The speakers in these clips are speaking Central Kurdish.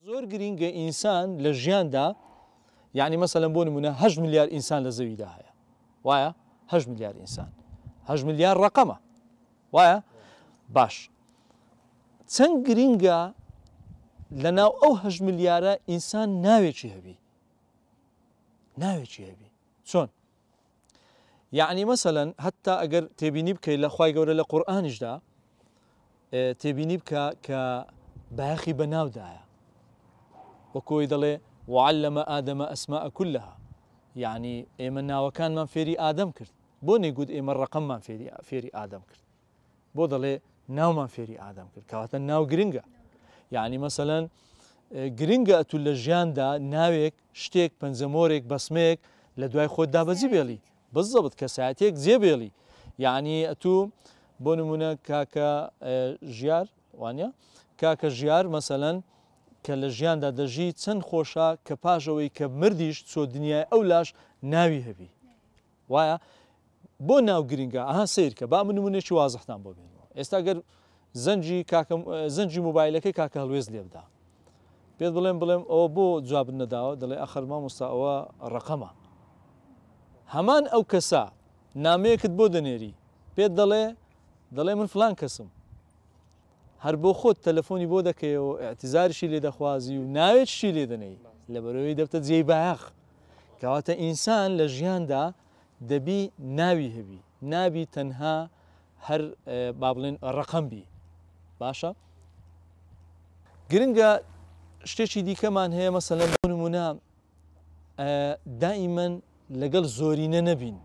زۆر گرینگە ئینسان لە ژیاندا یعنی مەسەلەن بۆ نمونە هەش ملیار ئینسان لە زەویدا هەیە وایە هەش ملیار ئینسان هەش ملیار ڕقەمە وایە باش چەند گرینگە لە ناو ئەو هەش ملیارە ئینسان ناوێکی هەبی ناوێکی هەبی چۆن یەعنی مەسەلەن هەتا ئەگەر تێبینی بکەیت لە خوای گەورە لە قورئانیشدا تێبینی بکە کە باخی بەناودایە وەکۆی دەڵێ وعلمە ئادەمە ئەسما ئەکلها یعنی ئێمە ناوەکانمان فێری ئادەم کرد بۆ نێگووت ئێمە ڕقممان فێری فێری ئادەم کرد بۆ دەڵێ ناومان فێری ئادەم کرد کەواتە ناو گرنگە یعنی مەسەەن گرنگە ئەتو لە ژیاندا ناوێک شتێک پەنجەمۆرێک بەسمەیەک لە دوای خۆت دابەزی بێڵی بزەبت کەساتێک جێبێڵی یعنی ئەتو بۆ نمونە کاکە ژیار وانە کاکە ژیار مەسەەن کە لە ژیاندا دەژی چەند خۆشە کە پاژەوەی کە مردیش چۆ دنیای ئەو لاش ناوی هەبی وایە بۆ ناو گرینگە ئەها سەیرکە با من نمونەیەکی وازحتان بۆ بێنمەوە ئێستا گەر زەنگی کاکە زەنگی موبایلەکەی کاکە هەڵوێست لێ بدا پێت بڵێم بڵێم ئەوە بۆ جوابت نەداوە دەڵێ ئەخەر مامۆستا ئەوە ڕەقەمە هەمان ئەو کەسە نامەیەکت بۆ دەنێری پێت دەڵێ دەڵێ من فلان کەسم هەر بۆ خۆت تەلەفۆنی بۆ دەکەیەوە و ئیعتیزاریشی لێ دەخوازی و ناوێکیشی لێ دەنێی، لەبەرئەوەی دەبتە جێی بایەخ. کەواتە ئینسان لە ژیاندا دەبی ناوی هەبی، نابی تەنها هەر با بڵێن ڕەقەم بی. باشە؟ گرنگە شتێکی دیکەمان هەیە مەسەلەن بۆ نموونە دائیمەن لەگەڵ زۆرینە نەبین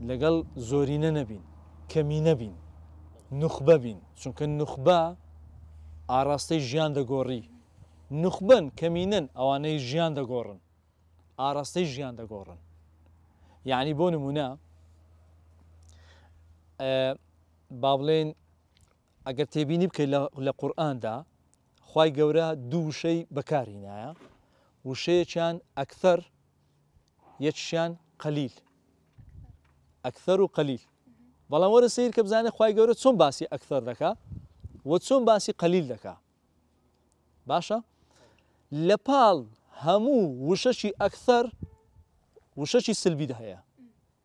لەگەڵ زۆرینە نەبین کەمی نەبین نوخبە بین چونکە نوخبە ئاراستەی ژیان دەگۆڕی نوخبن کەمینەن ئەوانەی ژیان دەگۆڕن ئاراستەی ژیان دەگۆڕن یعنی بۆ نمونە با بڵێن ئەگەر تێبینی بکەیت لە قورآاندا خوای گەورە دوو وشەی بەکار هینایە وشەیەکیان ئەکثەر یەکشیان قەلیل ئەکثەر و قەلیل بەڵام وەرە سیر کە بزانێت خی گەورە چۆن باسی ئەکثەر دەکا و چۆن باسی قەلیل دەکا باشە لە پاڵ هەموو وشەشی ئەکثەر وشەشی سلبیدا هەیە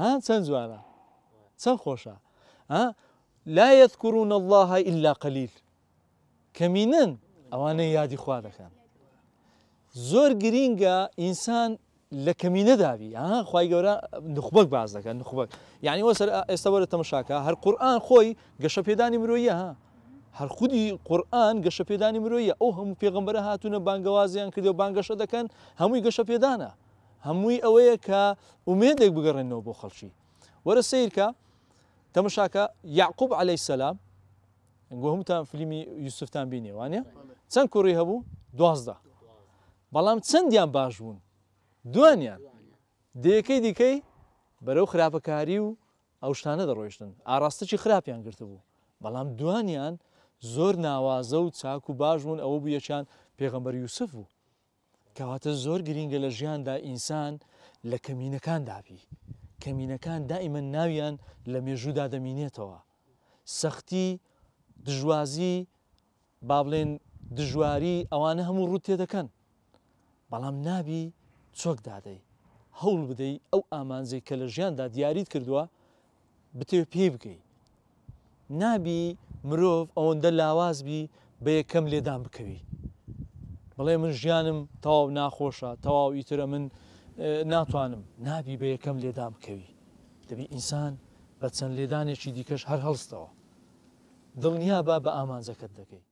ها چەند جوانە چەند خۆشە ها لا يذكرون الله إلا قليل کەمینن ئەوانە یادی خوا دەکەن زۆر گرینگە ئینسان لە کەمینە داوی ها خی گەورە نخبەک باز دەکەن نخبەک یعنی وە سەر ئێستا وەرە تەمەشاکە هەر قورآان خۆی گەشە پێدانی مرۆیە ها هەر خودی قورآن گەشە پێدانی مرۆیە ئەو هەموو پێغمبەرە هاتوونە بانگەوازیان کردو بانگەشە دەکەن هەمووی گەشە پێدانە هەمووی ئەوەیە کە ئومێدێک بگەڕێنەوە بۆ خەڵکی. وەرە سەیرکە، تەمەشاکە، یەعقوب عەلەی سەلام، گو هەمووتان فلیمی یوسفتان بینێ وانە؟ چەند کوڕی هەبوو؟ دوازدە. بەڵام چەندیان باش بوون؟ دوانیان. دەیەکەی دیکەی بەرەو خراپەکاری و ئەو شتانە دەڕۆیشتن ئاراستەی خراپیان گرتبوو بەڵام دوانیان زۆر ناوازە و چاک و باش بوون ئەوە بوو یەکیان پێغەمبەر یوسف بوو کەواتە زۆر گرینگە لە ژیاندا ئینسان لە کەمینەکان دابی کەمینەکان دائیمەن ناویان لە مێژوودا دەمینێتەوە سەختی دژوازی با بڵێن دژواری ئەوانە هەموو ڕوت تێ دەکەن بەڵام نابی چۆک دادەی هەوڵ بدەی ئەو ئامانجەی کە لە ژیاندا دیاریت کردووە بتەوێ پێی بگەی نابی مرۆڤ ئەوەندە لاواز بی بە یەکەم لێدان بکەوی بڵێ من ژیانم تەواو ناخۆشە تەواو ئیترە من ناتوانم نابی بە یەکەم لێدان بکەوی دەبی ئینسان بە چەند لێدانێکی دیکەش هەر هەڵستەوە دڵنیا با بە ئامانجەکەت دەکەی